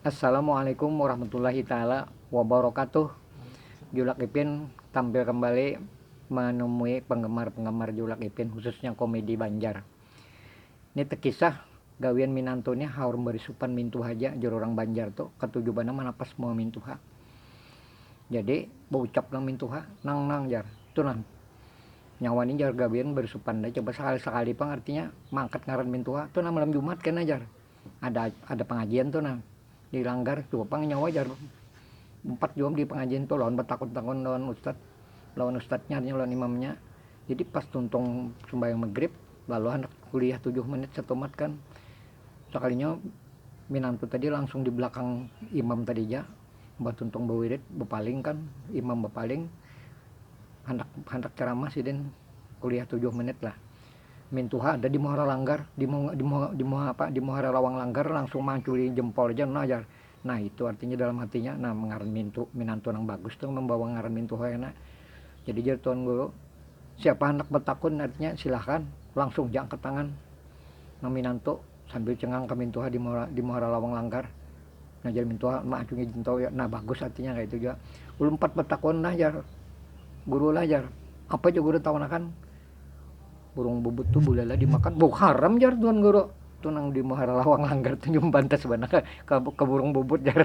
Assalamualaikum warahmatullahi taala wabarakatuh Julak Ipin tampil kembali menemui penggemar-penggemar Julak Ipin khususnya komedi Banjar ni tekisah gawian minantu ni haur berisupan mintu haja jar urang Banjar tu katuju banar manapas muha mintu ha jadi baucap nang mintu ha nang nang jar tu nah nyawa ni jar gawian berisupan coba sekali-sekali pang artinya maangkat ngaran mintu ha tu nah malam jumat kena jar. ada ada pengajian tuh nah di langgar tuh pang nyawa jar empat jam di pengajian tuh lawan bertakut takut lawan ustad lawan ustadnya lawan imamnya jadi pas tuntung sembahyang maghrib lalu anak kuliah tujuh menit satu mat kan sekalinya minang tuh tadi langsung di belakang imam tadi aja mbah tuntung bawirid bepaling kan imam bepaling handak handak ceramah sidin kuliah tujuh menit lah Mintuha ada di muhara langgar, di muhara lawang langgar langsung manculi jempol ja nah jar. Nah itu artinya dalam hatinya, nah ngaran mintu, minantu nang bagus tu membawa ngaran mintuha kena. Jadi jar tuan guru, siapa handak betakun artinya silahkan, langsung ja angkat tangan nang minantu sambil cengang ka mintuha di muhara lawang langgar. Nah jar mintuha maacungi jentau ya, nah bagus artinya kaya itu jua. Ulun umpat betakun nah jar guru lah jar, apa ja guru tahunakan. burung bubut tu bulala dimakan bau haram jar tuan guru tu nang di muhara lawang langgar tu nyumbah bantas banar ke, ke, ke burung bubut jar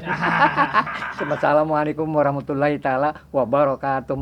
Assalamualaikum warahmatullahi taala wabarakatuh